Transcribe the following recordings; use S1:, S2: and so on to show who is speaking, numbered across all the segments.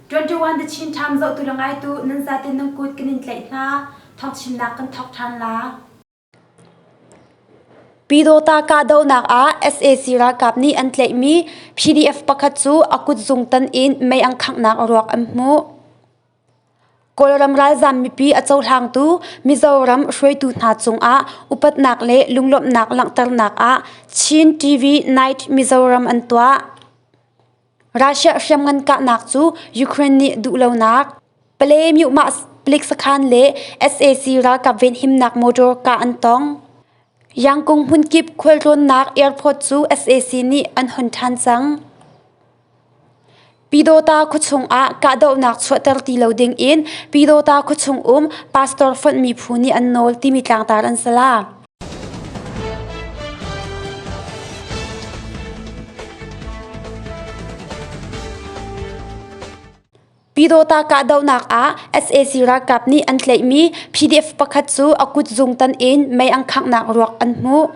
S1: 21 the Chin Time zoh tu le ngai tu nan zatin nan kut kan in tlaih hna thawk chinnak kan thawk ṭhan la
S2: Pyidawta kahdohnak ah sac ralkap nih an tlaihmi PDF pakhat cu a kutzung tan in mei an khanghnak ruak an hmuh. Kawlram ralzaam mipi a cohlangtu Mizoram hruaitu hna cungah upatnak le lunglawmhnak langhternak ah Chin TV Night Mizoram an tuah. Russia hriamngan kahnak cu Ukraine nih duhlonak, Palay myuhmahpalik sakhan le sac ralkap venhimnak motor kah an tong. Yangkung hmunkip khualtlawnnak airport cu sac nih an hon ṭhan cang. Pyidawta khuachung ah kahdohnak chuahter ti lo ding in Pyidawta khuachung um pastor fonhmi phu nih an nawl timi tlangtar an si la. Pyidawta kahdohnak ah sac ralkap nih an tlaihmi PDF pakhat cu a kutzung tan in mei an khangnak ruak an hmuh.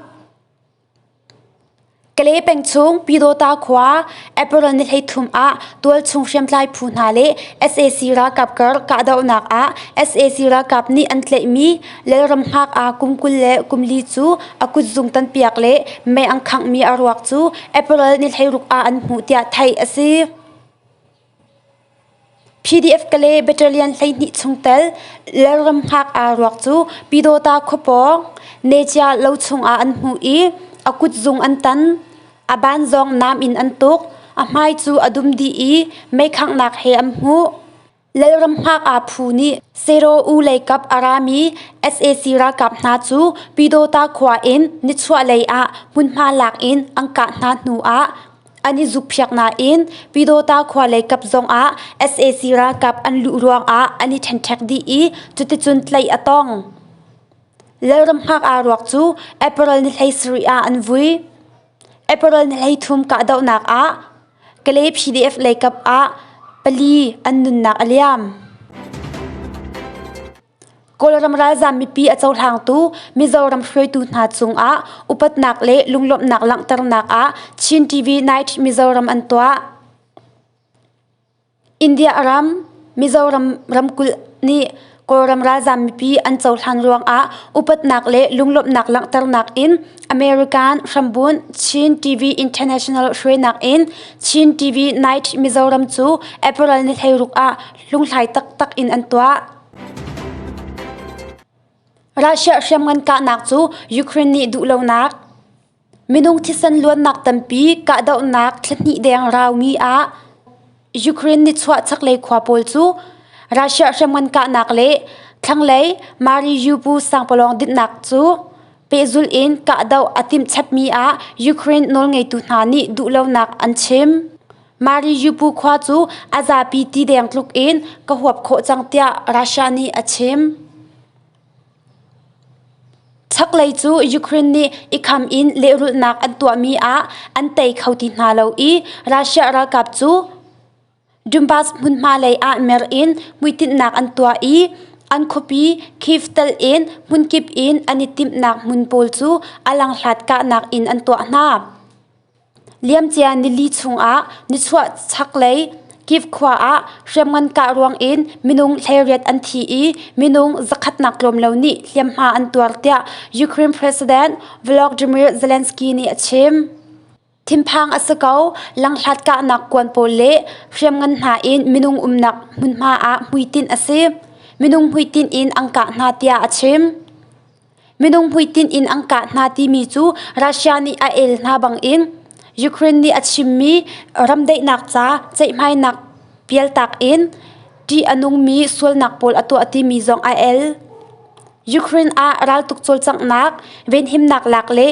S2: Kale peng chung Pyidawta khua April ni hleithum ah tualchung hriamtlai phu hna le sac ralkap kar kahdohnak ah sac ralkap nih an tlaihmi Lalram Ngak'a kum kul le kum li cu a kutzung tanpiak le mei an khanghmi a ruak cu April ni hleiruk ah an hmuh tiah theih a si. PDF Kale Battalion hleihnih chung tel Lalramhngak aa ruak cu Pyidawta khua pawng Necia lo chungah an hmuh i a kutzung an tan, a ban zong nam in an tuk, a hmai cu a dum dih i meikhanghnak he an hmuh. Lalramhngak aa phu nih Sero U leikap a rami sac ralkap hna cu Pyidawta khua in nichuahlei ah hmunhma lak in an kah hna hnu ah An i zukphiak nain Pyidawta khua lei kap zongah sac ralkap an luh ruangah an i ṭhenṭhek dih i cuticun tleih a tong. Lalramhngak'a ruak cu April ni hlei sarih ah an vui. April ni hlei thum kahdohnak ah Kalay PDF lei kap ah pali an nunnak a liam. Kawlram ralzaam mipi a cohlangtu Mizoram hruaitu hna cungah upatnak le lunglawmhnak langhternak ah Chin TV Night Mizoram an tuah. India ram Mizoram ramkulh nih Kawlram ralzaam mipi an cohlan ruangah upatnak le lunglawmhnak langhternak in American hrambun Chin TV International hruainak in Chin TV Night Mizoram cu April ni thleiruk ah Lunghlai taktak in an tuah. Russia hriamngan kahnak cu Ukraine nih duhlonak, minung thisen luannak tampi kahdohnak thlahnih deng raumi ah Ukraine nih chuah chaklei khua pawl cu Russia hriamngan kahnak le thlanglei Mariupol sangpalawng dinhnak cu pehzul in kahdoh a timhchepmi ah Ukraine nawlngeitu hna nih duhlonak an chim. Mariupol khua cu a zapi ti deng tluk in ka huap khawh cang tiah Russia nih a chim. Chaklei cu Ukraine nih i kham in lehrulhnak an tuahmi ah an tei kho ti hna lo i Russia ralkap cu Donbas hmunhma lei ah mer in hmuitinhnak an tuah i an khuapi Kyiv telh in hmunkip in an i timhnak hmun pawl cu a langhlat kahnak in an tuah hna. Liamcia nili chungah nichuah chaklei Kyiv khua ah hriamngan kah ruangin minung hleiriat an thi i minung zakhatnak tlawm lo nih hliamhma an tuar, tiah Ukraine President Volodymyr Zelensky nih a chim. Thinphang a si ko, langhlat kahnak kuan pawl le hriamngan hna in minung umnak hmunhma ah hmuitinh a si. Minung hmuitinh in an kah hna, tiah a chim. Minung hmuitinh in an kah hna timi cu Russia nih a el hna bangin Ukraine nih a chimmi ramdaihnak ca ceihmainak pialtak in ṭih a nungmi sualnak pawl a tuah timi zong a el. Ukraine ah raltuk cawlcanghnak, venhimnak lak le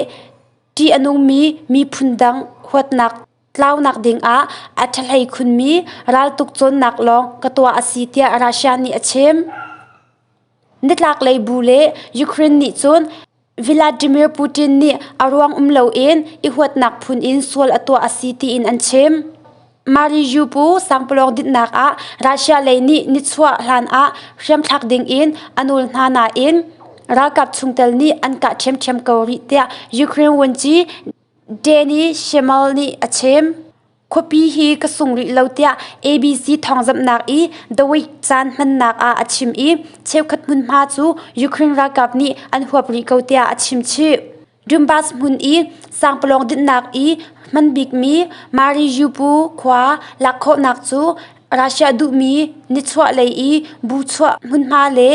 S2: ṭih a nungmi miphun dang huatnak tlaunak dingah a ṭhahlei khunmi raltuk cawnnak lawng ka tuah a si tiah Russia nih a chim. Nitlaklei bu le Ukraine nih cun Vladimir Putin nih a ruang um loin i huatnak phun in sual a tuah a si tiin an chim. Mariupol sangpalawng dinhnak ah Russia lei nih nichuah hlanah hriamthlak dingin a nawl hna nain ralkap chungtel nih an kah ṭhiamṭhiam ko rih tiah Ukraine vuanci Danny Shemel nih a chim. Khuapi hi ka sung rih lo tiah ABC thawngzamhnak i The Week caan hmannak ah a chim i cheukhat hmunhma cu Ukraine ralkap nih an huap rih ko tiah a chimchih. Donbas hmun i sangpalawng dinhnak i hman bikmi Mariupol khua lak khawhnak cu Russia duhmi nichuahlei i buchuah hmunhma le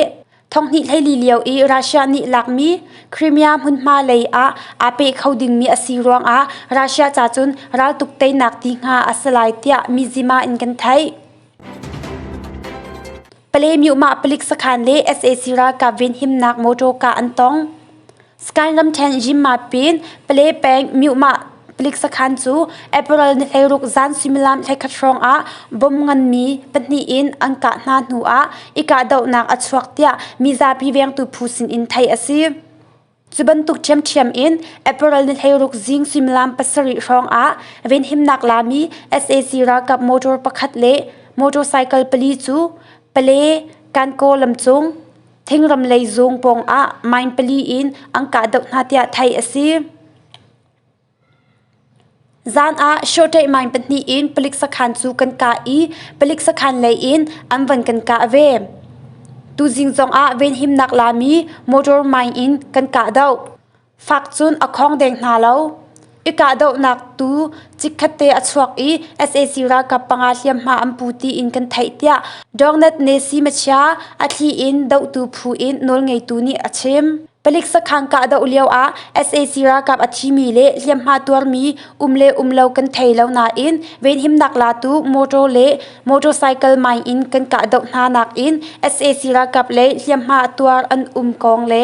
S2: Thonghnih hleili lio i Russia nih lakmi Crimea hmunhma lei ah aa pe kho dingmi a si ruangah Russia ca cun raltuk teinak ti hnga a si lai tiah mizima in kan theih. Pale myohmah palik sakhan le sac ralkap venhimnak mawṭaw kah an tong. Sky ramṭhen zimmappin pale peng Myuhmah palik sakhan cu April ni hleiruk zan suimilam thlekhat hrawngah bom nganmi pahnih in an kah hna hnuah i kahdohnak a chuak tiah mizapi vengtu phu sinin theih a si. Cu bantuk ṭhiamṭhiam in April ni hleiruk zing suimilam pasarih hrawngah venhimnak lami sac ralkap motor pakhat le motorcycle pali cu Pale, Kankaw lamcung, Thengram lei zung pawngah mine pali in an kahdoh hna tiah theih a si. Zan ah shortei mine pahnih in palik sakhan cu kan kah i palik sakhan lei in an van kan kah ve. Tuzing zongah venhimnak lami motor mine in kan kahdoh. Fak cun a khawng deng hna lo. I kahdohnak tu chikkhatte a chuak i sac ralkap panga hliamhma an pu tiin kan theih tiah Dornett Nesi machia a thli in dohtu phu in nawlngeitu nih a chim. Palik sakhang kahdoh lioah sac ralkap a thimi le hliamhma tuarmi um le um lo kan thei lo nain venhimnak latu motor le motorcycle mai in kan kahdoh hna nakin sac ralkap le hliamhma tuar an um kong le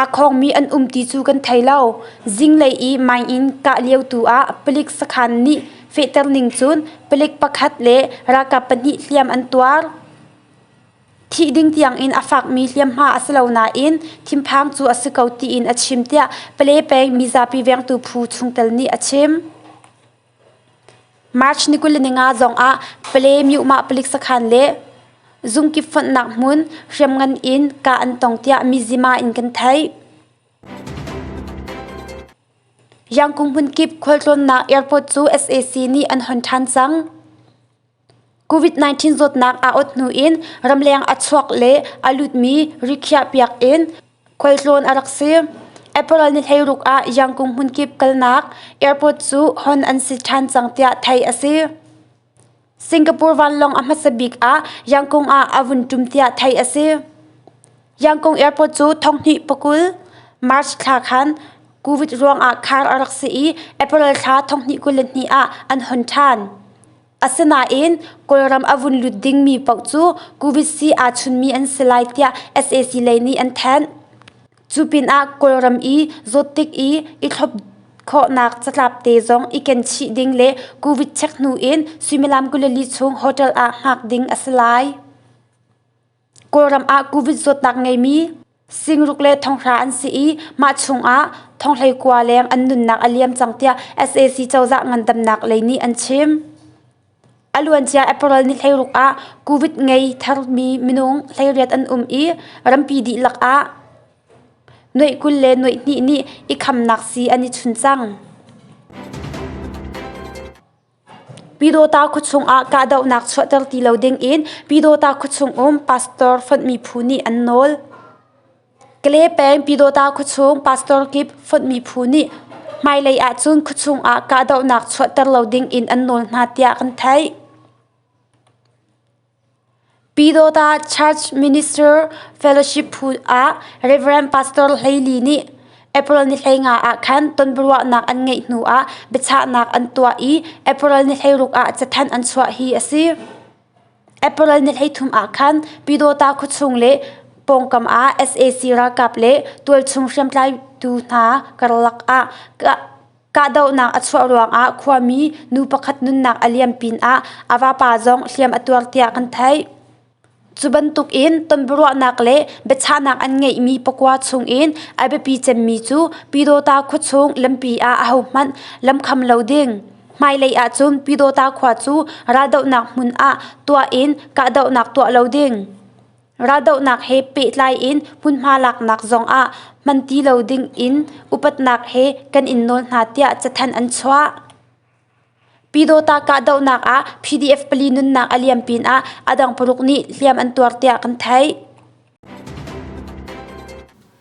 S2: Aa khawngmi an um ti cu kan thei lo. Zinglei i mine in kah lio tu ah palik sakhan nih fehterning cun palik pakhat le ralkap pahnih hliam an tuar. Thih ding tiangin a fakmi hliamhma a si lo nain thinphang cu a si ko tiin a chim, tiah Palepeng mizapi vengtu phu chungtel nih a chim. March ni kul le ninga zongah Pale Myuh-mah palik sakhan le zungkip fonhnak hmun hriamngan in kah an tong tiah Mizzima in kan theih. Yangkung hmunkip khualtlawnnak airport cu sac nih an hon ṭhan cang. COVID-19 zawtnak a awt hnu in ramleng a chuak le a lutmi rikhiahpiak in khualtlawn a rak si. April ni hleiruk ah Yangkung hmunkip kalnak airport cu hon an si ṭhan cang tiah theih a si. Singapore vanlawng a hmasa bik ah Yangkung ah a vun ṭum tiah theih a si. Yangkung airport cu thonghnih pakul March thla khan COVID ruangah khar a rak si i April thla thonghnih kul le hnih ah an hon ṭhan. Asinain Kawlram a vun lut dingmi paoh cu Kuvitsi aa chunmi an si lai tiah sac lei nih an thanh. Cu pinah Kawlram i zawt tik i i thlop khawhnak catlap te zong i kenchih ding le Covid check hnu in suimilam kul le li chung hotel ah hngak ding a si lai. Kawlram ah Covid zawtnak ngeimi singruk le thonghra an si i mah chungah thonghleikua leng an nunnak a liam cang tiah sac cozah ngandamnak lei nih an chim. A luancia April ni hleiruk ah Covid ngei thermi minung hleiriat an um i rampi dihlak ah nuaih kul le nuaih hnih nih i khamnak sii an i chun cang. Pyidawta khuachung ah kahdohnak chuahter ti lo dingin Pyidawta khuachung um pastor fonhmi phu nih an nawl. Kale peng Pyidawta khuachung pastor kip fonhmi phu nih hmailei ahcun khuachung ah kahdohnak chuahter lo dingin an nawl hna tiah kan theih. Pyidawta Church Minister Fellowship phu ah Rev. Pastor Hlei Li nih April nihleinga ah khan tonbiaruahnak an ngeih hnu ah biachahnak an tuah i April nihleiruk ah cathanh an chuah hi a si. April nihleithum ah khan Pyidawta khuachung le pawngkam ah sac ralkap le tualchung hriamtlai tu hna karlak ah Kahdohnak a chuah ruangah khuami nu pakhat nunnak a liam pinah a vapa zong hliam a tuar tiah kan theih. Cu bantukin tonbiaruahnak le biachahnak an ngeihmi pakua chungin a biapi cemmi cu Pyidawta khua chung lampi ah ahohmanh lamkham lo ding. Hmailei ahcun Pyidawta khua cu raldohnak hmun ah tuah in kahdohnak tuah lo ding. Raldohnak he pehtlai in hmunhma laknak zongah hman ti lo ding in upatnak he kan in nawl hna tiah cathanh an chuah. Pyidawta kahdohnak ah PDF pali nunnak a liam pinah a dang paruk nih hliam an tuar tiah kan theih.